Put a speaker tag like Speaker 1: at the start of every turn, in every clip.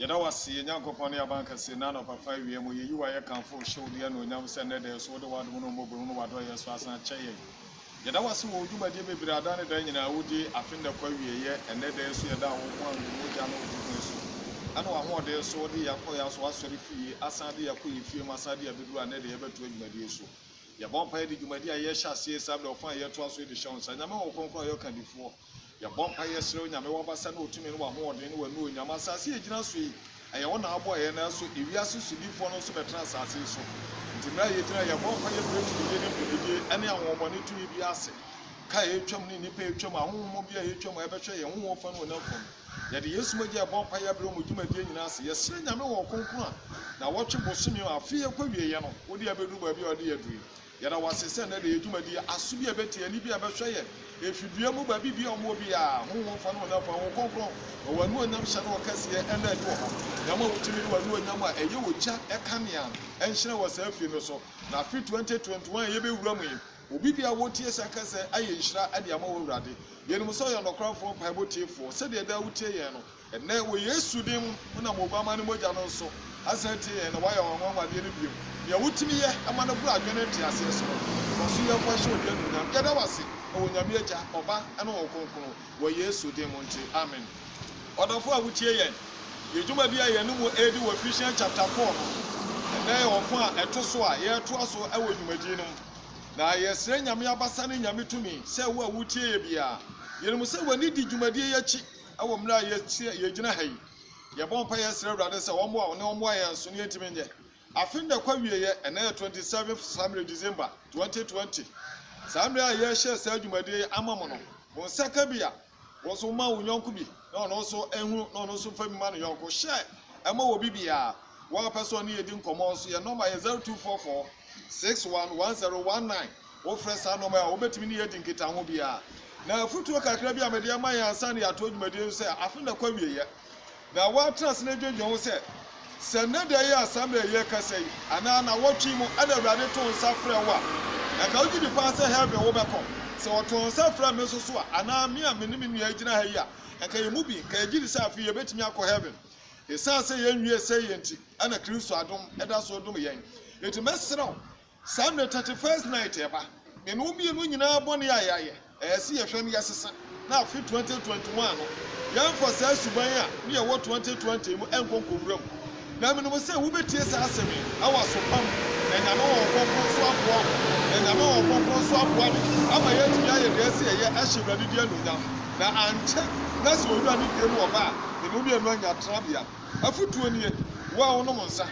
Speaker 1: Yɛda wo ase, yɛn Nyankopɔn ne yɛn Abankɛse, nnɛ anɔpafã awia mu, yɛyi wo ayɛ kamfo wo, hyɛ wo din anuonyam sɛ nnɛ da yi so wode w'adom ne wo mmɔborɔhunu ne w'adɔeyɛ so asan akyɛ yɛn. Yɛda wo ase wɔ wo dwumadie bebree a daa ne daa nyinaa wodie, afe nnɛ kɔ awieɛ, nnɛ da yi so yɛda wo ho a wo mogya ne wo tokuro so ne w'ahoɔden so wode yɛn akɔ yɛn aso asɔre fie yi asan de yɛn akɔ yɛn fie mu asan de yɛn abɛduru a nnɛ da yi yɛbɛtoa dwumadie so. Yɛbɔ mpaeɛ de dwumadie a yɛrehyɛ aseɛ yi saa berɛ ɔfã a yɛretoa so yi de hyɛ wo nsa. Nyame wɔ wo kronkron a ɔyɛ ɔkandifoɔ. Yɛbɔ mpae yɛsrɛ Onyame w'abasa ne w'tumi ne w'ahoɔden ne w'anuonyam. Asaase a yɛgyina so yi, ɛyɛ wo na abɔɔ yɛn nanso ewiase sodifoɔ no nso bɛtena asaase yi so. Nti mmerɛ a yɛgyina yi, yɛbɔ mpae yɛbrɛ tumidie ne dwumadie ɛne ahonhommɔne tumi biara ase. Ka a yɛretwam ne nnipa a yɛtwam, ahonhom bi a yɛtwam a ɛbɛhwɛ yɛn honhom fam ne honam fam no, yɛde Yesu mogya ɛbɔ mpae yɛbrɛ wɔn dwumadie nyinaa ase. Yɛsrɛ Nyame wɔ ɔkronkron a, nnawɔtwe, bosome, afe ɛkɔ awieɛ no, wode abɛduru baabi a wode yɛn aduru yi. Yɛda wo ase sɛ nnɛ de yɛ dwumadi yi aso bi a ɛbɛte ani bi a ɛbɛhwɛ yɛ efi dua mu baabi bi a ɔmo wɔ biara. Honhom fa ne honam fa Honhom Kronkron ma wɔn anuonyam hyɛ ne ɔkɛseɛ ɛna adi wɔ ha. Yɛma wo tumi ne wo anuonyam a ɛyɛ ogya kanea nhyerɛn wɔ saa fie no so. Na afe 2021 a yɛbɛwura mu yi, obi biara a wotie saa kasa yi ayɛ nhyira de ama wo Awurade. Yɛnim sɛ ɔyɛ ɔnɔkwafoɔ mpaebɔ tiefoɔ sɛdeɛ daa wotie yɛn no. Ɛnnɛ, wɔ Yesu din mu, wonam Oguammaa no mogya no so asan atie yɛn na woayɛ w'anwanwadeɛ no bio. Nea wotumi yɛ ma no boro adwene ne nteaseɛ so no, fa so yɛ fa hyɛ wo din anuonyam. Yɛda wo ase wɔ Onyame Agya, Ɔba, ne Honhom Kronkron wɔ Yesu din mu nti, amen. Ɔdɔfoɔ a wotie yɛn, yɛn dwumadie a yɛne mo redi wɔ Ephesians chapter four no, ɛnnɛ yɛ ɔfã a ɛto so a yɛretoa so wɔ dwumadie no mu. Na yɛsrɛ Nyame abasa ne Nyame tumi sɛ wo a woretie yɛn biara, yɛnim sɛ w'ani di dwumadie yi akyi, Wɔ mmerɛ a yɛte, yɛgyina ha yi, yɛbɔ mpaeɛ yɛsrɛ Awurade sɛ ɔmmoa wo na ɔmmoa yɛn nso na yɛntumi nyɛ. Afe no da kɔ awieɛ, ɛnnɛ yɛ 27th saa mmerɛ December 2020. Saa mmerɛ a yɛrehyɛ saa dwumadie yi ama mo no, mo nsa ka bi a, wo nso ma wo yɔnko bi na ɔno nso nhunu na ɔno nso mfa bi ma ne yɔnko. Hyɛ ɛma obi biara. Wo a wopɛ sɛ ɔne yɛn di nkɔmmɔ nso, yɛn nɔma yɛ 0244 611019. Wofrɛ saa nɔma yi a, wobɛtumi ne yɛn adi nkitaho biara. Na afotuo kakra bi a mede ama yɛn ansa na yɛatoa dwumadie no sɛ, afe no akɔ awieeɛ, na woatena ase na adwendwen ho sɛ, Sɛ nnɛ da yi ansa mmerɛ a yɛrekasa yi, anaa nnawɔtwe yi mu na Awurade too nsa frɛɛ wo a, anka wogye di paa sɛ Heaven wobɛkɔ? Sɛ ɔtoo nsa frɛɛ me nso so a, anaa me a me ne me nua yi gyina ha yi a, anka yɛn mu bi, anka yɛgye di sɛ afei yɛbɛtumi akɔ Heaven? Esiane sɛ yenwie sɛɛ yɛ nti, ɛna Kristo adom da so dom yɛn. Enti mɛsrɛ wo, saa mmere Thirty First Night reba, me ne wo mmienu nyinaa bɔne a yɛayɛ, ɛyɛ sɛ yɛhwɛ na yɛsesa, na afe Twenty Twenty One no, yɛmfa saa suban a na yɛwɔ Twenty Twenty mu nkɔ nkowura mu. Na menim sɛ wubetie saa asɛm yi na woaso pa mu, na Nyame Honhom Kronkron nso aboa wo. Na Nyame Honhom Kronkron nso aboa me ama yɛatumi ayɛ nea ɛsɛ sɛ yɛyɛ ahyɛ Awurade din anuonyam. Na ankyɛ na sɛ owura ne dua mu ɔba a, ne mu mmienu anya tenabea. Afotuo nie, Wo a wonom nsa,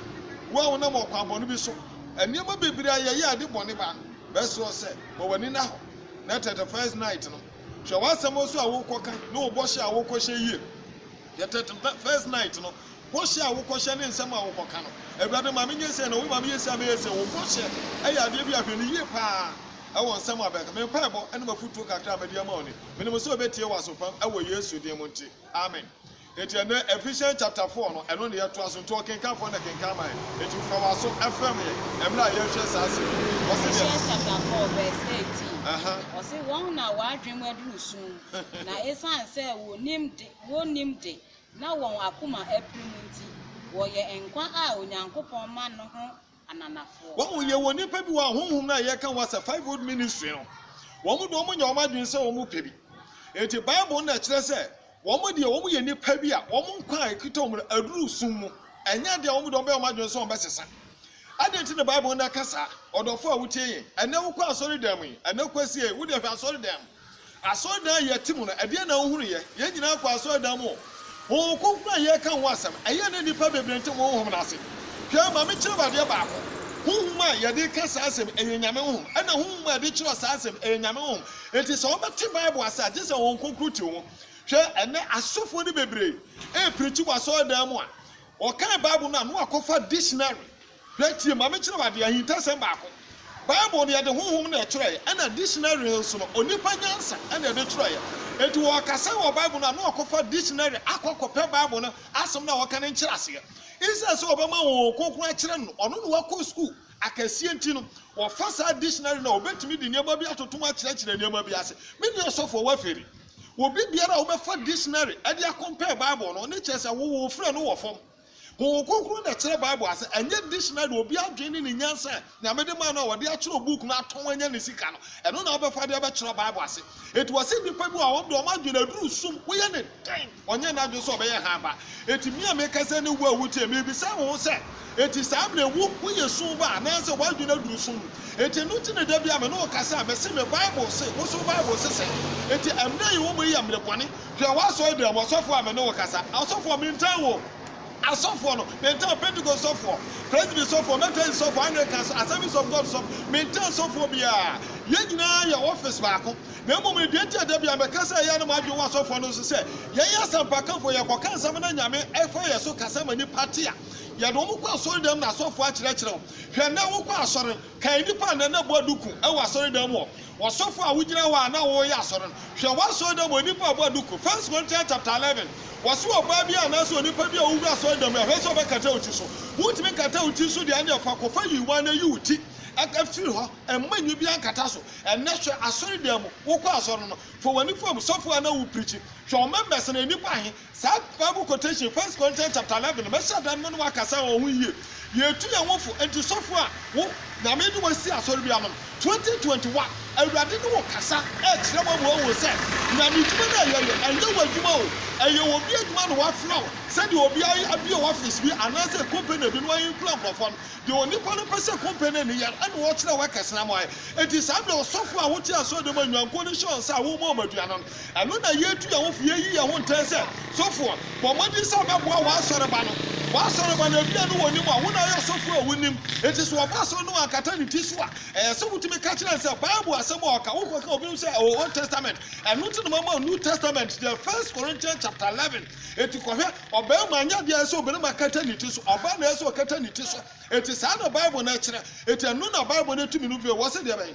Speaker 1: wo a wonam ɔkwan bɔne bi so, nneɛma bebree a yɛyɛ a ɛde bɔne ba no, mɛsrɛ wo sɛ, bɔ w'ani nna hɔ, na tɛtɛ first night no. Hwɛ w'asɛm nso a wokɔka ne wo bɔhyɛ a wokɔhyɛ yie. Hwɛ tɛtɛ first night no bɔhyɛ a wokɔhyɛ ne nsɛm a wokɔka no. Awurade, ma menyɛ sei, na Wo, ma meyɛ sei, na mɛyɛ sei. Wo bɔhyɛ yɛ adeɛ bi a hwɛ no yie pa ara wɔ nsɛm a bɛka. Me mpaebɔ ne m'afotuo kakra a mede ama Wo ni. Menim sɛ ɔbɛtie w'aso pa wɔ Yesu din mu nti, amen. Enti ɛnnɛ, Ephesians chapter four no, ɛno na yɛtoa so. Nti ɔkenkanfoɔ na kenkan ma yɛn. Enti fa w'aso frɛm yɛn mmerɛ a yɛrehwɛ saa asɛm yi. Ɔse deɛ. Ephesians chapter
Speaker 2: four verse eighteen, Aha. ɔse, Wɔn na wɔn adwene mu aduru sum, na esiane sɛ wɔnnim de, wɔnnim de, na wɔn akoma apirim nti, wɔyɛ nkwa a Onyankopɔn ma no ho ananafoɔ. Wahu, yɛwɔ nnipa
Speaker 1: bi wɔ ha, honhom no a yɛka ho asɛ, fivefold ministry no, wɔn deɛ wɔnyɛ wɔn adwene sɛ wɔpɛ bi. Enti Bible no na ɛkyerɛ sɛ wɔn deɛ wɔyɛ nnipa bi a wɔn nkwa a ɛkita wɔn no aduru sum mu. Ɛnyɛ adeɛ a wɔn deɛ wɔbɛyɛ wɔn adwene sɛ wɔbɛsesa. Adɛn nti na Bible no na ɛka saa? Ɔdɔfoɔ a wotie yɛn, ɛnnɛ wokɔ asɔredan mu yi, ɛnnɛ kwasia yi, wo deɛ hwɛ asɔredan mu. Asɔredan a yɛte mu no, ɛdeɛn na wohunuiɛ? Yɛn nyinaa kɔɔ asɔredan mu. Honhom Kronkron a yɛreka ho asɛm, ɛyɛɛ na nnipa bebree nte Honhom no ase. Hwɛ, ma menkyerɛ wo adeɛ baako. Honhom a yɛde reka saa asɛm, ɛyɛ Nyame Honhom, ɛna Honhom a yɛde kyerɛw saa asɛm, ɛyɛ Nyame Honhom. Enti sɛ wobɛte Bible ase a, gye sɛ Honhom Kronkron te wo mu. Hwɛ, ɛnnɛ asɔfoɔ no bebree reprikyi wɔ asɔredan mu a, wɔkan Bible no a, na wɔakɔfa dictionary Hwɛ, tie, ma menkyerɛ wo ade, ahintasɛm baako. Bible no, yɛde honhom na ɛtwerɛeɛ, ɛnna dictionary no nso no, onipa nyansa na ɛde twerɛeɛ. Enti wɔreka sɛn wɔ Bible no a, na wɔkɔfa dictionary akɔ akɔpɛ Bible no asɛm no a wɔka no nkyerɛaseɛ. Esiane sɛ wɔbɛma honhom kronkron akyerɛ no no, ɔno na wakɔ sukuu akɛseɛ nti no, wɔfa saa dictionary no a, wɔbɛtumi de nneɛma bi atoto mu akyerɛkyerɛ nneɛma bi ase. Me deɛ ɔsɔfoɔ, woafiri. Obi biara a wobɛfa dictionary de akɔmpɛɛ Bible no, ne kyerɛ sɛ wo, wo frɛ no wɔ fam.
Speaker 3: Honhom Kronkron na ɛkyerɛ Bible ase, ɛnyɛ dictionary, obi adwene ne ne nyansa a Nyame de maa no a wɔde akyerɛw book no atɔn anya ne sika no, ɛno na wobɛfa de abɛkyerɛ Bible ase. Enti wɔse nnipa bi wɔ hɔ a wɔn de wɔn adwene aduru sum, woyɛ ne dɛn? Ɔnyɛ n'adwene sɛ ɔbɛyɛ hann ba. Enti me a mekasa yi ne wo a wutie me yi, bisa wo ho sɛ, Enti saa bere yi wo, woyɛ sum ba anaasɛ w'adwene aduru sum mu? Enti ɛno nti na da biara me ne wo kasa a, mese me Bible se, wo nso wo Bible se sɛn? Enti ɛmmere a yɛwɔ mu yi yɛ mmere bɔne. Hwɛ, w'asɔre dɛm, ɔsɔfoɔ a me ne wo kasa, asɔfoɔ, mentan wo, asɔfoɔ no, mentan wo, Pentekoste sɔfoɔ, Presby sɔfoɔ, Methodist sɔfoɔ, Anglican sɔfoɔ, Assemblies of God sɔfoɔ, mentan sɔfoɔ biara, yɛn nyinaa yɛ office baako, na mmom no, deɛ nti a da biara meka sɛ ɛyɛ na m'adwene wɔ asɔfoɔ no so sɛ, yɛyɛ asɛmpakafoɔ, yɛkɔka nsɛm na Nyame fa yɛn so kasa ma nnipa te a, yɛde wɔn kɔ asɔre dɛm na asɔfoɔ akyerɛkyerɛ wɔn, hwɛ, nnɛ wokɔ asɔre, kae nnipa a nnɛ na bɔ duku wɔ asɔre dɛm wɔ. Wɔsɔfo a wogyina hɔ a na woreyɛ asɔre no, hwɛ w'asɔredɔm onipa a ɔbɔ aduku, First Corinthians chapter eleven, wɔse ɔbaa bi anaasɛ onipa bi a ɔwura asɔredɔm no ɛhwɛ sɛ ɔbɛkata wo ti so. Wontumi nkata wo ti so deɛ ɛnneɛ fa kɔfa nyiwa na yi wo ti firi hɔ, mma nwi biara nkata so. Ɛnnɛ hwɛ asɔredan mu, wokɔ asɔre no, fa w'ani fa mu, sɔfo a na wopreachi, hwɛ wo members no yɛ nnipa ahe? Saa Bible quotation, First Corinthians chapter eleven, mɛhyɛ dan mu ne wo akasa wɔ ho yie. Yɛretu yɛn ho fo, enti sɔfo a wo Nyame de wo asi asɔre bi ano no, twenty twenty one, Awurade ne wo kasa rekyerɛ wo ama woahu sɛ Nyame adwuma no a ɛyɛ no, ɛnyɛ w'adwuma o, ɛyɛ obi adwuma na wafrɛ wo sɛdeɛ obiara abue office bi anaasɛ company bi na wayi nkura nkurɔfoɔ no. Deɛ onipa no pɛ sɛ company no yɛ no, ɛna ɔkyerɛ workers no ama wɔayɛ. Enti saa berɛ a ɔsɔfo a wote asɔre dɛm a nnwankuo no hyɛ wo nsa a worema wɔn aduane no, Ɛno na yetu yɛn ho fo, yeyi yɛn ho ntɛn sɛ, Sofoɔ, bɔ mmɔden sɛ wobɛboa w'asɔreba no. W'asɔreba no, ebia ne wɔn mu a wo na woyɛ ɔsɔfoɔ a wonim. Enti sɛ wɔba asɔre no wɔankata ne ti so a, ɛyɛ sɛ wotumi ka kyerɛ no sɛ, Bible asɛm a ɔka, wokɔka obinom sɛ ɛwɔ Old Testament. Ɛno nti na mama wo New Testament, deɛ First Corinthians chapter eleven. Enti kɔhwɛ. Ɔbarima nyɛ adeɛ a ɛsɛ sɛ ɔbarima kata ne ti so, ɔbaa na ɛsɛ sɛ ɔkata ne ti so. Enti saa na Bible no kyerɛ. Enti ɛno na Bible no tumi no bio wɔ sɛdeɛ ɛbɛyɛ.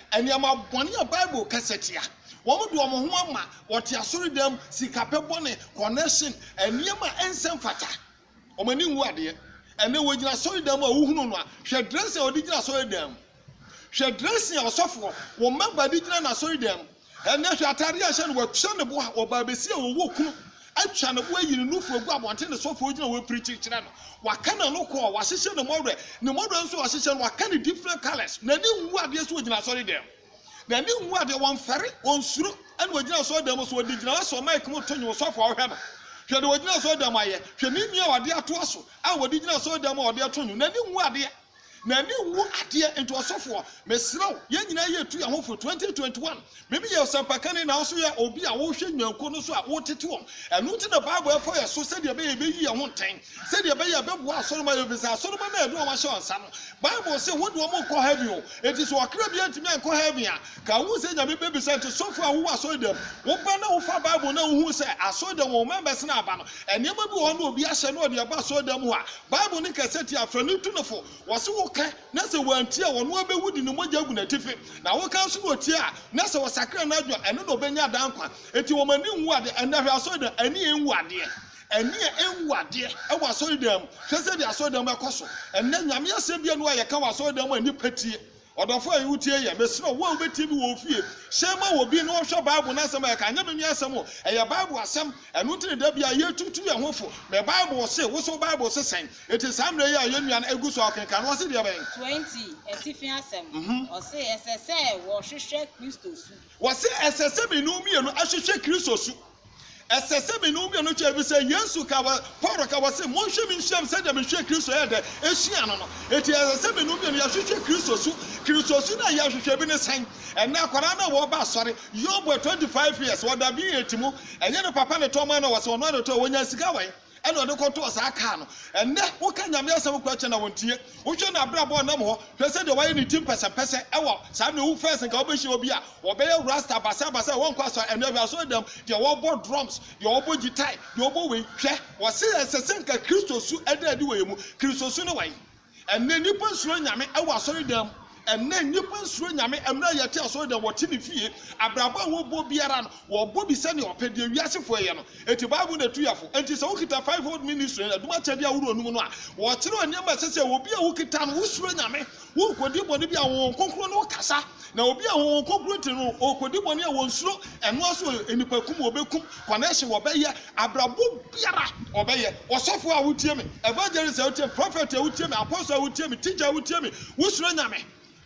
Speaker 3: Nneɛma bɔne a Bible kasa tia. Wɔde wɔn ho ama wɔte asɔredan mu, sikapɛ bɔne, kɔnɛhyen, nneɛma a ɛnsɛ mfata. Wɔn ani nwu adeɛ. Ɛnnɛ wɔgyina asɔredan mu a wohunu no a, hwɛ dressing a wɔde gyina asɔredan mu. Hwɛ dressing a ɔsɔfoɔ, wo mɛmba de gyina n'asɔredan mu. Ɛnnɛ hwɛ atadeɛ a ɛhyɛ no, watua ne bo a, ɔbaa bɛsi a ɔwɔ kunu. Atwa ne bo ayi ne nufu agu abɔnten ne sɔfo a ogyina hɔ pirikyi kyerɛ no. Waka n'ano kɔɔ, wahyehyɛ ne mmɔwerɛ, ne mmɔwerɛ nso a wahyehyɛ no, waka no different colours. N'ani nwu adeɛ so ogyina asɔredan mu. N'ani nwu adeɛ, ɔmfɛre, ɔnsuro, ɛna ogyina asɔredan mu. So ɔde gyina hɔ sɔ mic mu to nnwom, ɔsɔfo a wohwɛ no, hwɛ deɛ ɔgyina asɔredan mu ayɛ, hwɛ ne nua a ɔde atoa so a ɔde gyina asɔredan mu a ɔde reto nnwom, n'ani nwu adeɛ. N'ani nwu adeɛ nti ɔsɔfoɔ mesrɛ wo yɛn nyinaa yɛ tu yɛn ho fo 2021 me meyɛ ɔsɛmpakani na woso yɛ obi a wohwɛ nnwankuo no so a wotete wɔn ɛno nti na bible ɛfɔ yɛn so sɛdeɛ ɛbɛyɛ yɛbɛyi yɛn ho ntɛn sɛdeɛ ɛbɛyɛ ɛbɛboa asɔrema yɛ ɛfiri sɛ asɔrema no a ɛde wɔn ahyɛ wɔn nsa no bible se wode wɔn nkɔ heaven o enti sɛ ɔkra bi antumi ankɔ heaven a ka wohu sɛ nyame bɛbisa nti sɔfoɔ a wowɔ asɔre dɛm woba na wofa bible na wohu sɛ asɔre dɛm wɔn members no aba no nneɛma bi wɔ hɔ na obi ahyɛ na ɔde ɛba asɔre dɛm hɔ a Bible no ka sɛ, Tie afra no tu no fo. Wɔse woka na sɛ wantie a, ɔno ara bɛwu de ne mogya agu n'atifi. Na woka nso na ɔtie a, na sɛ ɔsakra n'adwene a, ɛno na ɔbɛnya daa nkwa. Enti wɔn ani nwu adeɛ. Ɛnnɛ hwɛ asɔredan, ani nwu adeɛ. Ani a ɛnwu adeɛ wɔ asɔredan mu. Hwɛ sɛdeɛ asɔredan mu akɔ so. Ɛnnɛ Nyame asɛm biara nni hɔ a yɛka wɔ asɔredan mu a nnipa tie. Ɔdɔfo a wutie yi ɛ, mesrɛ wo, wo a wubetie me wɔ wo fie, hyɛ ma wɔ bi na ɔnhwɛ Bible no asɛm a yɛka. Ɛnyɛ me nua asɛm o, ɛyɛ Bible asɛm. Ɛno nti na da biara yɛretutu yɛn ho fo. Me Bible se, wo nso wo Bible se sɛn? Enti saa mmerɛ yi a yɛn nua no agu so a ɔkenkan no, ɔse deɛbɛn? 20, Atifi
Speaker 2: Asɛm, Ɔse ɛsɛ sɛ wɔhwehwɛ Kristo su. Wɔse ɛsɛ
Speaker 3: sɛ me ne wo mmienu hwehwɛ Kristo su. Ɛsɛ sɛ me ne wo mmienu kyɛ, efisɛ Yesu ka wɔ, Paulo ka wɔ se, Monhwɛ me nhyiam sɛdeɛ mehwɛɛ Kristo yɛɛ dɛ hyiaa no no. Enti ɛsɛ sɛ me ne wo mmienu yɛhwehwɛ Kristo su. Kristo su no a yɛhwehwɛ bi ne sɛn? Ɛnnɛ akwadaa no a wɔreba asɔre, Yobo, 25 years, ɔda B8 mu. Ɛnyɛ ne papa na ɛtɔɔ maa no, wɔ se ɔno ara na ɛtɔɔ, ɔnyaa sika wɛn? ɛna ɔde kɔtɔɔ saa kaa no. Ɛnnɛ, woka Nyame asɛm kora kyɛ no a, wɔntie. Wohwɛ n'abrabɔ a ɔnam hɔ, hwɛ sɛdeɛ wayɛ ne ti mpɛsɛmpɛsɛ wɔ saa mmerɛ yi. Wo first nka wobɛhyia obi a ɔbɛyɛ rasta basabasa a wɔnkɔ asɔre. Ɛnnɛ hwɛ asɔredam, deɛ wɔbɔ drums, deɛ wɔbɔ gyitae, deɛ wɔbɔ wei. Hwɛ, wɔse ɛsɛ sɛ nka Kristo su da adi wɔ yɛn mu. Kristo su ne wɔn? Ɛnnɛ nnipa nsuro Nyame wɔ asɔredan mu. Ɛnnɛ nnipa nsuro Nyame. Mmerɛ a yɛte asɔredan, wɔte ne fie. Abrabɔ a wɔbɔ biara no, wɔbɔ bi sɛdeɛ wɔpɛ, deɛ wiasefoɔ yɛ no. Enti Bible na ɛtu yɛn fo. Enti sɛ wokita Fivefold Ministry no adum akyɛdeɛ ahoroɔ no mu no a, wɔkyerɛw nneɛma a ɛsɛ sɛ obi a wokita no, wosuro Nyame, wonkɔdi bɔne biara, Honhom Kronkron ne wo kasa, Na obi a wɔwɔ nkokuroti no ɔrekɔdi bɔne a wɔnsuro ɛno ara so wɔ nnipakum a wɔbɛkum, connection wɔbɛyɛ, abrabɔ biara wɔbɛyɛ, ɔsɔfoɔ a wotie me, evangelist a wotie me, prophet a wotie me, apostle a wotie me, teacher a wotie me, wosuro Nyame?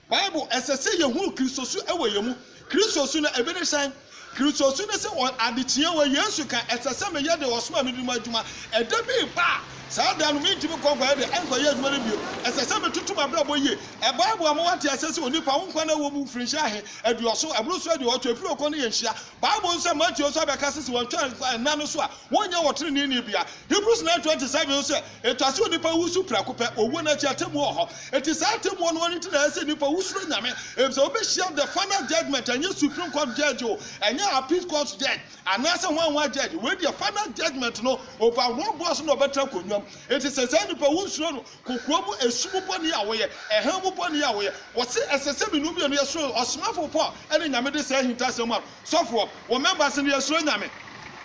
Speaker 3: Bible, ɛsɛ sɛ yɛhunu Kristosu wɔ yɛn mu. Kristosu no, ebi ne sɛn? Kristo su ne sɛ, Wɔ ade tiawa, Yesu ka, ɛsɛ sɛ meyɛ deɛ ɔsomaa me no mu adwuma. Ɛda bi reba a, saa da no, merentumi nkɔ nkɔyɛ deɛ ɛnkɔyɛ adwuma no bio. Ɛsɛ sɛ metoto m'abrabɔ yie. Ɛboa wo ama woate aseɛ sɛ onipa, wo nkwa no ɛwɔ mu mfirinhyia ahe? Aduɔso? Ɛboro so aduɔwɔtwe? Ɛfiri ɔkɔ ne yɛ nhyia? Bible no sɛ Mateo nso abɛka sɛ sɛ wɔantwa nna no so a, wɔrenyɛ ɔteneneeni biara. Hebrews nine twenty seven nso sɛ, Ɛtɔ sɛ onipa wu so prɛko pɛ, owuo no akyi atemmuo wɔ hɔ. Enti saa atemmuo no ano nti na ɛyɛ sɛ nnipa wu suro Nyame, efisɛ wobɛhyia the final judgement, ɛnyɛ supreme court judge o, ɛnyɛ appeal court judge, anaasɛ hwan hwan judge, wei deɛ final judgement no over wɔn boɔ so na wɔbɛtra nkonnwa mu. Enti sɛ saa nnipa wu nsuro no, kokoa mu esum bɔne a woyɛ, ɛhan mu bɔne a woyɛ, wɔse ɛsɛ sɛ mmienu mmienu yɛ soro ɔsomafo Paul ne Nyame de saa ahintasɛm a Sɔfoɔ, wo members no yɛsuro Nyame.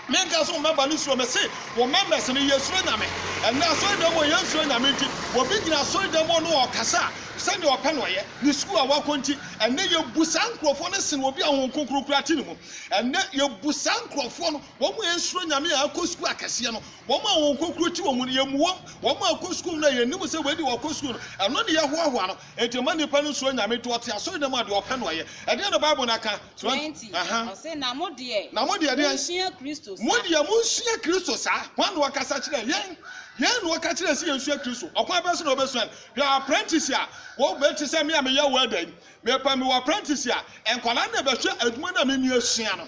Speaker 3: Me nka sɛ wo member no suro, mese wo members no yɛsuro Nyame. Ɛnnɛ asɔredɛm mu yɛnsuro Nyame nti, obi gyina asɔredɛm mu ne ɔɔkasa a, sɛdeɛ ɔpɛ na ɔyɛ, ne sukuu a wakɔ nti. Ɛnnɛ yɛbu saa nkorɔfoɔ no sen obi a Honhom Kronkron kura te ne mu. Ɛnnɛ yɛbu saa nkorɔfoɔ no, wɔn a ɛnsuro Nyame a akɔ sukuu akɛseɛ no, wɔn a Honhom Kronkron te wɔn mu no, yɛmmu wɔn. Wɔn a akɔ sukuu no a yɛnim sɛ wei deɛ wɔkɔ sukuu no, ɛno ne yɛhoahoa no. Enti mma nnipa no nsuro Nyame nti, ɔte asɔredɛm mu a deɛ ɔpɛ na ɔyɛ. Ɛdeɛn na Bible no aka? Deɛn nti? Ɔse,
Speaker 2: na mo deɛ, Na mo deɛ deɛn? monsua
Speaker 3: Kristo sa. Mo deɛ
Speaker 2: monsua
Speaker 3: Kristo sa. Hwan na ɔkasa kyerɛɛ yɛn? Yɛn na ɔka kyerɛɛ yɛn sɛ yɛnsua Kristo. Ɔkwan bɛn so na wobɛsua no? Hwɛ apprentice a wɔbɛ te sɛ me a meyɛ welder yi. Mepɛ mewɔ apprentice a, nkwadaa na ɛbɛhwɛ adwuma no a me nua sua no,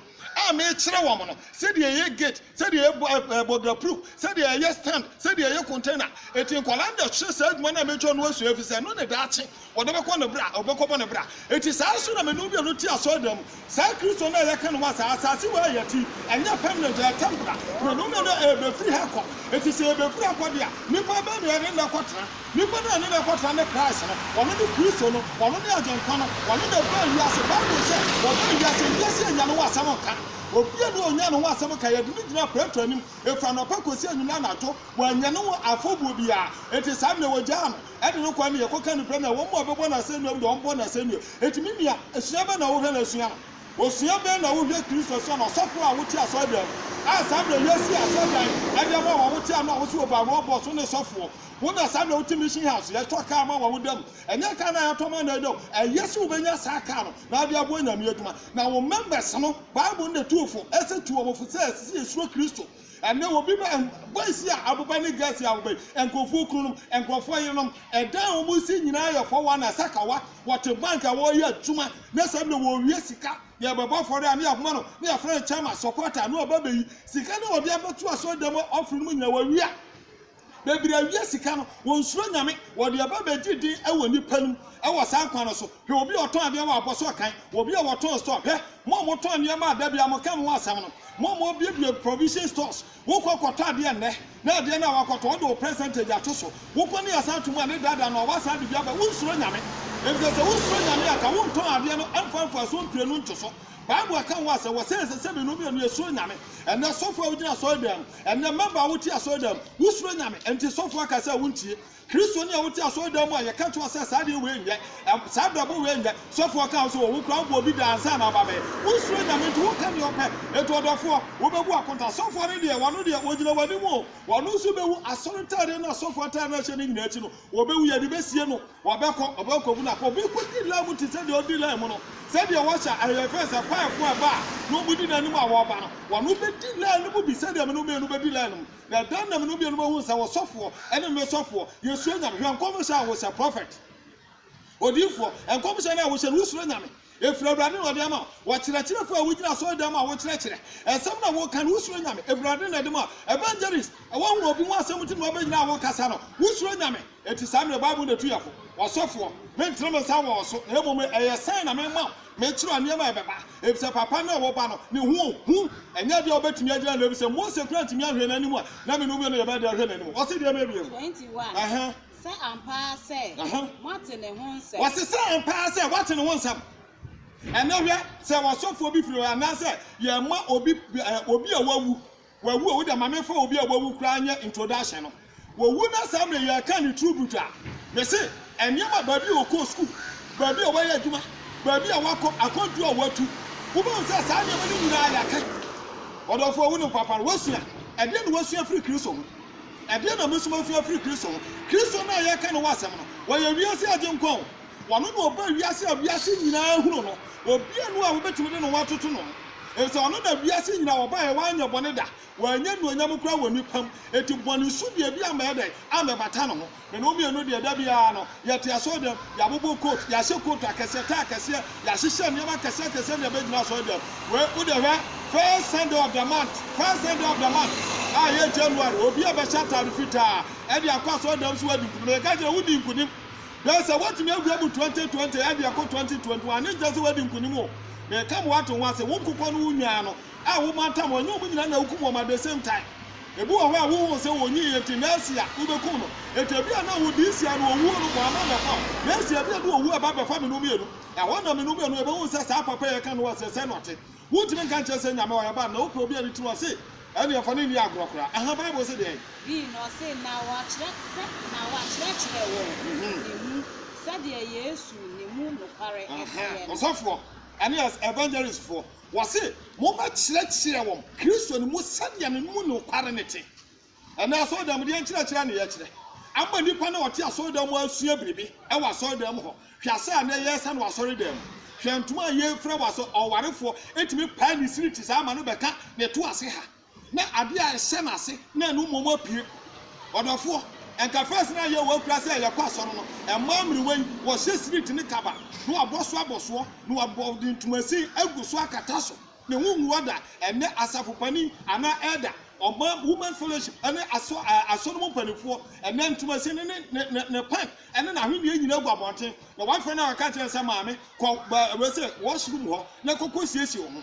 Speaker 3: a mekyerɛ wɔn no, sɛdeɛ yɛyɛ gate, sɛdeɛ yɛyɛ bɔdra proof, sɛdeɛ yɛyɛ stand, sɛdeɛ yɛyɛ container. Enti nkwadaa na ɛhwɛ saa adwuma no a mɛtwa no asua, ɛfiri sɛ ɛno ne daakye Wɔde bɛkɔ ne bra, wɔbɛkɔbɔ ne bra. Enti saa ara nso na me ne obi a ɔno te asɔredan mu, saa Kristo no a yɛka no wɔ asaase, asaase wei a yɛte yi, ɛnyɛ permanent, ɛyɛ temporal. Berɛ no na ɛrebɛfiri ha akɔ. Enti sɛ yɛbɛfiri akɔ deɛ a, nnipa bɛn na yɛne no akɔtena? Nnipa no a yɛne no akɔtena ne Christ no. Ɔno ne Kristo no. Ɔno ne Agyenkwa no. Ɔno na ɔbaa wiase. Bible sɛ, Ɔbaa wiase, wiase annya ne ho asɛm nka. Obiara nni hɔ a ɔnyaa ne ho asɛm nka. Yɛde no gyinaa Pilato anim, ɛfiri anɔpa kɔsi anwummerɛ anadwo. Wannya ne ho afɔbuo biara. Enti saa berɛ no, wɔgyaa no. Ɛde no kɔ ama yɛkɔka nokorɛ no a wɔn mu a wɔbɛbɔ no asɛnnua mu deɛ wɔbɔ no asɛnnua. Enti me nua, sua bɛn na wohwɛ na sua no? Osua bɛn na wohwɛ Kristo sɛ ɔno ɔsɔfoɔ a wote asɔredan mu, a saa berɛ a yɛasi asɔredan de ama wo a wote ano a wose wɔbaa Roa Boss wo ne sɔfoɔ, wo na saa berɛ a wote Mission House yɛtɔ kaa ma wo a woda mu, ɛnyɛ kaa no a yɛtɔ ma no a ɛda mu, ɛyɛ sɛ wobɛnya saa kaa no na wode aboa Nyame adwuma, na wo members no, Bible no na ɛtu wo fo, ɛsɛ tu wɔn fo sɛ ɛsɛ sɛ yɛsuro Kristo. Ɛnnɛ, obi ma ɛn, boys a aboba ne girls a aboba yi, nkurɔfoɔ kununom, nkurɔfoɔ yerenom, ɛdan a wɔsi nyinaa yɛ fɔ wɔn asakawa, wɔte bank a wɔreyɛ adwuma, na saa bi na wɔrewie sika, yɛrebɛbɔ afɔre a na yɛakoma no, na yɛafrɛ no chairman, supporter, na waba abɛyi, sika no a wɔde abɛto asɔredan mu offering no mu nyinaa, wɔawia. Bebree a wia sika no, wɔnsuro Nyame, wɔde ɛba bɛgye din wɔ nnipa no mu wɔ saa kwan no so. Hwɛ obi a ɔtɔn adeɛ wɔ abɔsoɔ kan, wɔ obi a wɔtɔn store, hwɛ, mo a motɔn nneɛma a da biara moka mo ho asɛm no, mo a mobuebue provision stores, wokɔ kɔtɔ adeɛ nnɛ, na adeɛ no a woakɔtɔ, wode wo percentage ato so, wokɔ ne asan to mu a ne daadaa no a, woasan de bi aba, wonsuro Nyame. Efisɛ sɛ wosuro Nyame a, anka wontɔn adeɛ no mfa mfasoɔ mprenu nto so. Bible ka ho asɛm, wɔse ɛsɛ sɛ mmienu mmienu yɛsuro Nyame. Ɛnnɛ, sɔfo a wogyina asɔredan mu, Ɛnnɛ, mmabaa a wote asɔredan mu, wosuro Nyame, enti sɔfo aka sɛ wontie. Kristoni a wote asɔredan mu a yɛka kyerɛ wo sɛ saa adeɛ wei nyɛ, ɛm, saa abrabɔ wei nyɛ, sɔfo aka wo sɛ wɔ wo koraa wobɔ obi da ansa na aba bɛyɛ. Wonsuro Nyame nti woka deɛ wopɛ. Enti ɔdɔfoɔ, wobɛbu akonta. Sɔfoɔ no deɛ, wɔno deɛ, wɔgyina w'anim o, wɔno nso bɛwu. Asɔre ntaadeɛ no a sɔfo ataade no a ɛhyɛ no nyinaa akyi no, wɔbɛwu. Yɛde bɛsie no. Wɔbɛkɔ, wɔbɛkɔbu no apɔ. Obi kɔdi line mu te sɛ deɛ ɔdi line mu no, sɛdeɛ wɔhyɛ a, ɛyɛ fɛ sɛ kwaeɛfoɔ ɛba a na wɔdi n'anim a wɔreba no, wɔn bɛdi line no mu bi sɛdeɛ me no mmienu bɛdi line no mu. Na ɛda na me no mmienu bɛhunu sɛ wo sɔfoɔ ne me sɔfoɔ, yɛsuro Nyame. Hwɛ nkɔmhyɛ a wohyɛ, Prophet, odiyifoɔ, nkɔmhyɛ no a wohyɛ no, wosuro Nyame? Ɛfiri Awurade na ɔde ama wo. Ɔkyerɛkyerɛfoɔ a wogyina asɔredan mu a wokyerɛkyerɛ nsɛm na woka no, wosuro Nyame? Ɛfiri Awurade na ɛde ma wo. Evangelist, woahunu obi ho asɛm nti na wabɛgyina a wokasa no, wosuro Nyame? Enti saa mmerɛ Bible na ɛtu yɛn fo. Ɔsɔfoɔ, menntene me nsa wɔ wo so, na mmom no, ɛyɛ sign na mema wo, mekyerɛ wo nneɛma a ɛbɛba, efisɛ papa no a ɛwɔ ba no, ne ho hu, ɛnyɛ adeɛ a wobɛtumi agyina ano, efisɛ Mose koraa anntumi anhwɛ n'anim a na me ne wo mmienu yɛbɛyɛ deɛ ahwɛ n'anim. Ɔse deɛ mebie mu. Ɛhe?
Speaker 2: Sɛ ampa ara sɛ moate ne ho nsɛm. Wɔse sɛ ampa ara sɛ
Speaker 3: woate ne ho nsɛm. Ɛnɛ hwɛ, sɛ ɔsɔfoɔ bi firi hɔ, anaasɛ yɛma obi, obi a wawu, wawu o, wo deɛ ma memfa obi a wawu koraa nyɛ introduction no, wɔwu na saa mmerɛ yɛka ne tribute a, mese nneɛma, baabi a ɔkɔɔ sukuu, baabi a wayɛ adwuma, baabi a wakɔ, akwantuo a watu, wobɛhu sɛ saa nneɛma no nyinaa yɛaka. Ɔdɔfoɔ, wonim papa no, woasua. Ɛdeɛn na woasua afiri Kristo ho? Ɛdeɛn na mosoma nsua afiri Kristo hɔ? Kristo no a yɛreka ne ho asɛm no, ɔyɛ wiase Agyenkwa o. Ɔno na ɔbaa wiase a wiase nyinaa hunu no. Obiara nni hɔ a wobɛtumi de ne ho atoto ne ho, efisɛ ɔno na wiase nyinaa wɔbaeɛ, wanyɛ bɔne da, wannya anuonyam koraa wɔ nnipa mu, enti bɔne su deɛ bi ammɛyɛ dɛn? Ammɛbata ne ho. Na ne ho mmienu deɛ, da biara no, yɛte asɔredan mu, yɛabobɔ coat, yɛahyɛ coat akɛseɛ, tie akɛseɛ, yɛahyehyɛ nneɛma akɛseɛ akɛseɛ de abɛgyina asɔredan mu. Wei, wo deɛ hwɛ, first Sunday of the month, first Sunday of the month a ɛyɛ January, obiara bɛhyɛ ataade fitaa ɛde akɔ asɔredan mu sɛ wadi nkunim. Na yɛka kyerɛ no, wodii nkunim. Bɛyɛ sɛ woatumi awura mu 2020 ɛde akɔ 2021, ne nkyerɛ sɛ wadi nkunim o. Meka ma woate ho ase, wo nkokɔ no wo nnwan no, a womantam wɔn, ɛnyɛ wɔn nyinaa na wukum wɔn at the same time. Ebi wɔ hɔ a wuhuu sɛ onyii yɛ nti nɛɛse a wubekum no. Enti ebia na wo this year no owuo no bɔ ama bɛfa wo. Next year ebia ɛde owuo ɛba bɛfa me no mmienu. Ɛhɔ na me no mmienu yɛbɛhu sɛ saa papa yi a yɛka no ho asɛ sɛn na ɔte. Wuntumi nka nkyerɛ sɛ Nyame ɔyɛ bad na wopɛ obi a ne tiri ɔse. Ɛnneɛ fa no nni agorɔ koraa. Aha Bible se deɛn? Bi na ɔse na wɔakyerɛ sɛ na
Speaker 2: wɔakyerɛkyerɛ wɔ ne mu sɛdeɛ Yesu ne mu nokware teɛ no. Ɔsɔfoɔ
Speaker 3: ɛne as evangelistfoɔ. Wɔse, Mobɛkyerɛkyerɛ wɔn Kristo no mu sɛdeɛ ne mu nokware no te. Ɛnnɛ asɔredan mu deɛ nkyerɛkyerɛ na yɛkyerɛ. Ama nnipa no a wɔte asɔredan mu asua biribi wɔ asɔredan mu hɔ. Hwɛ asa a nnɛ yɛresa no wɔ asɔredan mu. Hwɛ ntoma a yɛfira wɔ asɔ, ɔwarefoɔ tumi pae ne siri te saa ma no bɛka na ɛto ase ha. Na ade a ɛhyɛ n'ase na ɛno mmom apue. Ɔdɔfoɔ, anka first na yɛ wɔ kura sɛ yɛkɔ asɔre no, mmaa mmerewa yi, wɔhyɛ street ne kaba, na wɔabɔ so abɔsoɔ, na wɔabɔ de ntomasin agu so akata so, ne ho ngu hɔ da, ɛnnɛ asafo panin anaa elder, ɔman women's fellowship ne asɔ asɔre mu mpanimfoɔ, ɛnnɛ ntomasin ne ne, ne, ne, ne pant ne n'ahwenneɛ nyinaa gu abɔnten, na wɔafrɛ no a wɔka kyerɛ no sɛ maame, kɔ ba, wei sɛ, washroom hɔ na kɔkɔ siesie wo ho.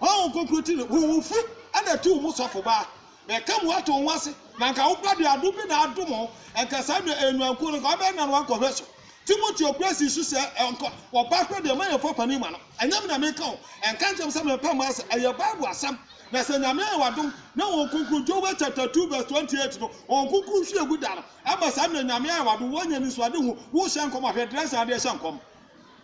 Speaker 3: Honhom Kronkron ti no, wo wofo na tuu mo sɔfo baa, na ɛka mu ato wo ho ase, na anka wo ba de adom bi na adom ho, anka saa nua, ɛyɛ nuankuo no, anka ɔbɛyɛ nanoa nkɔhwɛ so. Timoteo kura sii so sɛ, Anka ɔbaa korɔ deɛ, ma yɛmfa panin ma no. Ɛnyɛ me na meka o, ɛnka nkyerɛm sɛ mepɛ mma ase, ɛyɛ Bible asɛm. Na sɛ Nyame ayɛ wo adom, na Honhom Kronkron, Joel chapter two verse twenty eight no, Honhom Kronkron hwie gu da no, ama saa nua, Nyame ayɛ wo adom, woanya anisoadehu, worehyɛ nkɔm a, hwɛ Dresden adeɛ hyɛ nkɔm.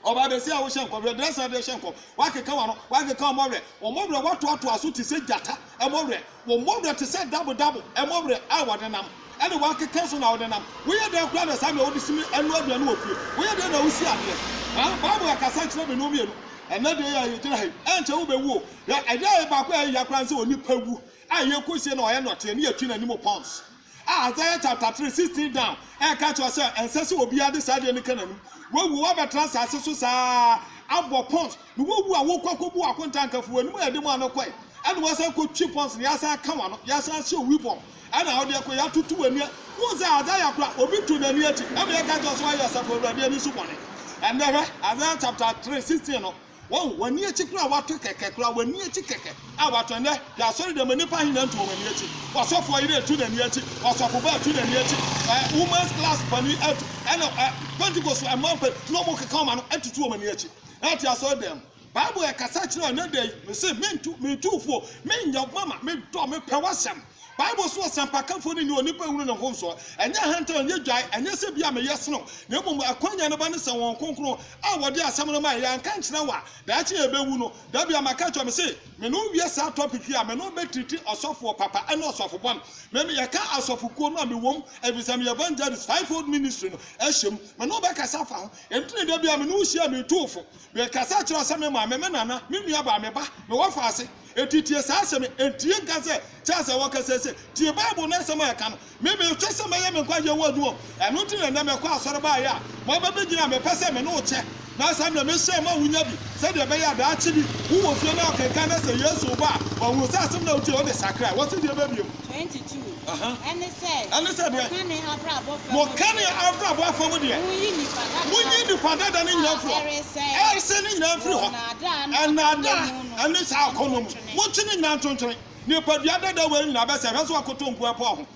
Speaker 3: Ɔbaa basia a wohyɛ nkɔm, werɛdrɛsɛn a wode rehyɛ nkɔm, woakeka w'ano, woakeka wɔn werɛ, wɔn werɛ, woatoatoa so te sɛ gyata werɛ, wɔn werɛ te sɛ dabodabo werɛ a wɔde nam, ɛnna woakeka so na wode nam. Woyɛ dɛn koraa na saa nea wode si me ɛno aduane wɔ fie? Woyɛ dɛn na wusi adeɛ? Ha, Bible akasa kyerɛ me no mmienu. Ɛnnɛ deɛ yɛ, yɛgyina ha yi, ɛnkyɛ wobɛwu o. Hwɛ, adeɛ a ɛyɛ baako a ɛyɛ hia koraa ne sɛ onipa wu a yɛkɔsie no a ɔyɛ nnɔteɛ ne yɛtwi n'anim pounds. A Isaiah chapter three sixteen down ɛreka kyerɛ sɛ ɛnsɛ sɛ obiara de saa adeɛ no ka n'anim. Wawu, wabɛtena asase so saa ara, abɔ pons, na wawu a wokɔ akɔbu akonta nka fi w'anim a ɛde mu ano kɔe, ɛna wasan kɔtwi pons no, yɛasan aka w'ano, yɛasan ahyɛ owi bɔm, ɛna wode kɔ, yɛatoto w'ani a. Wohu sɛ Isaiah koraa, obi to n'ani akyi, ɛma yɛka kyerɛ sɛ wayɛ Asafo Awurade ani so bɔne. Ɛnnɛ hwɛ, Isaiah chapter three sixteen no, Wɔn, wɔn ani akyi koraa a wɔato kɛkɛ koraa, wɔn ani akyi kɛkɛ a wɔato. Ɛnnɛ, hwɛ asɔreda mu, nnipa ahe na ntu wɔn ani akyi? W'asɔfoɔ yere atu n'ani akyi, w'asɔfoba atu n'ani akyi, ɛ, women's class panin atu, ɛna, ɛ, Pentekost mmaa mpan na wɔkeka wɔn ano atutu wɔn ani akyi. Ɛ, te asɔredan mu. Bible ɛkasa kyerɛ ɛnnɛ da yi, Mese, Mentu, Metu wo fo, Menyɛ wo mama, Medɔ, Mepɛ w'asɛm. Bible so ɔsɛmpakafo no nni onipa hunu ne ho nsow. Ɛnyɛ ahantan, ɛnyɛ dwae, ɛnyɛ sɛ ebia meyɛ sen wo, na mmom akwannya no ba ne sɛ Honhom Kronkron a wɔde asɛm no mae, yɛanka ankyerɛ wo a, daakye yɛbɛwu no. Da bi ama ka kyerɛ me se, me ne wo wie saa topic yi a, me ne wo bɛtiriti ɔsɔfoɔ papa ne ɔsɔfo bɔne. Me ne yɛka asɔfokuo no a mewɔ mu, efisɛ meyɛ evangelist, fivefold ministry no ahyɛ mu. Me ne wo bɛkasa afa ho. Enti na da bi a me ne wo hyia a, metu wo fo. Mekasa kyerɛ wo sɛ me maame, me nana, me nuabaa, me ba, me wɔfa ase. Enti tie saa asɛm yi, entie nka sɛ, 'Kyɛn sɛ wɔkasa ase. Tie Bible no asɛm a ɛka no, Me, mehwɛ sɛ mɛyɛ me nkwagyeɛ wo adwuma. Ɛno nti na ɛnnɛ mekɔ asɔre baeɛ a moaba bɛgyina a mepɛ sɛ me ne wo kyɛ, na saa berɛ mehyɛ ma wonya bi, sɛdeɛ ɛbɛyɛ a daakye bi wowɔ fie na wokenkan na sɛ Yesu reba a, wahunu sɛ asɛm no a wotiee no de sakraa wo sɛdeɛ ɛbɛbie mu. 22
Speaker 2: ɛne sɛ, Ɛne sɛ deɛ.
Speaker 3: Wɔka
Speaker 2: ne abrabɔ fa mu deɛ. Wɔka ne abrabɔ fa mu deɛ.
Speaker 3: Monyi nnipa dada. Monyi nnipa dada no nyinaa mfiri hɔ. A ɛresɛe. Ɛresɛe no nyinaa mfiri hɔ. Wɔ nnaadaa ne atemmuo mu no. ne saa akɔnnɔ mu. Motwe ne nyinaa ntwentwɛn. Nipadua dada wei nyinaa bɛsɛe. Hwɛ sɛ wɔakoto nkoa po ho.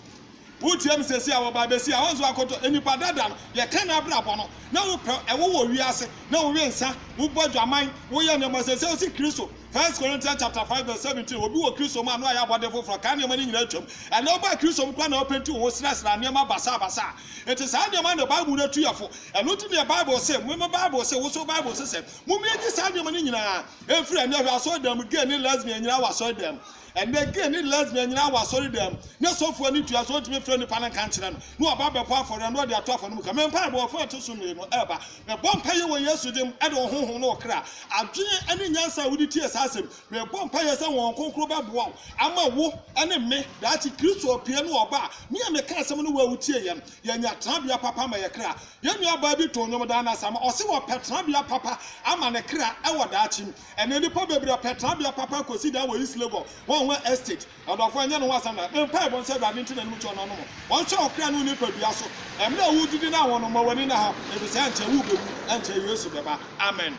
Speaker 3: Wotie me seesei a, wɔ Baabesia a, woahu sɛ wɔakoto nnipa dada no. Yɛka n'abrabɔ no. Na wopɛ, ɛwo wɔ wiase. Na wowe nsã, wobɔ adwaman, woyɛ nneɛma. Seesei wosi Kristo. First Corinthians chapter five verse seventeen, Obi wɔ Kristo mu a, na wayɛ abɔde foforɔ. Kan nneɛma no nyinaa atwam. Ɛnnɛ wobaa Kristo mu koraa na wopenti wo ho srasra nneɛma basabasa a. Enti saa nneɛma no na Bible no atu yɛfo. Ɛno nti na Bible se, me, me Bible se, wo nso wo Bible se sɛ, Mommue nnye saa nneɛma no nyinaa. Ɛmfiri ɛnnɛ hwɛ asɔredan mu gay ne lesbian nyinaa wɔ asɔredam. Ɛnnɛ gay ne lesbian nyinaa wɔ asɔredam. Ne sɔfo ani tua sɛ ɔntumi mfrɛ nnipa no nka nkyerɛ no na waba abɛbɔ afɔre a na ɔde ato afɔremuka. Me mpaebɔ ɔfã a ɛto so mmienu ɛreba. Mebɔ mpaeɛ wɔ Yesu din mu de wo honhom ne wo kra, adwene ne nyansa a wode tie saa asɛm. Mebɔ mpaeɛ sɛ Honhom Kronkron bɛboa wo ama wo ne me daakye Kristo apue no ɔba a me a meka asɛm no wo a wotie yɛn yɛanya tenabea papa ma yɛn kra. Yɛn nuabaa bi too nnwom daa no ase ama ɔse wɔpɛ tenabea papa ama ne kra wɔ daakye mu. Ɛnnɛ nnipa bebree pɛ tenabea papa akosi daa wɔ East Legon, Hua Hua Estate. Ɔdɔfo, ɛnyɛ ne ho asɛm na me mpaebɔ ne sɛ Awurade nte n'anom kyɛ ɔno anom ɔnhwɛ wo kra ne wo nipadua so. Mmerɛ a woredidi no ahono, ma w'ani nna ha, efisɛ ankyɛ worebɛwu, ankyɛ Yesu bɛba. Amen.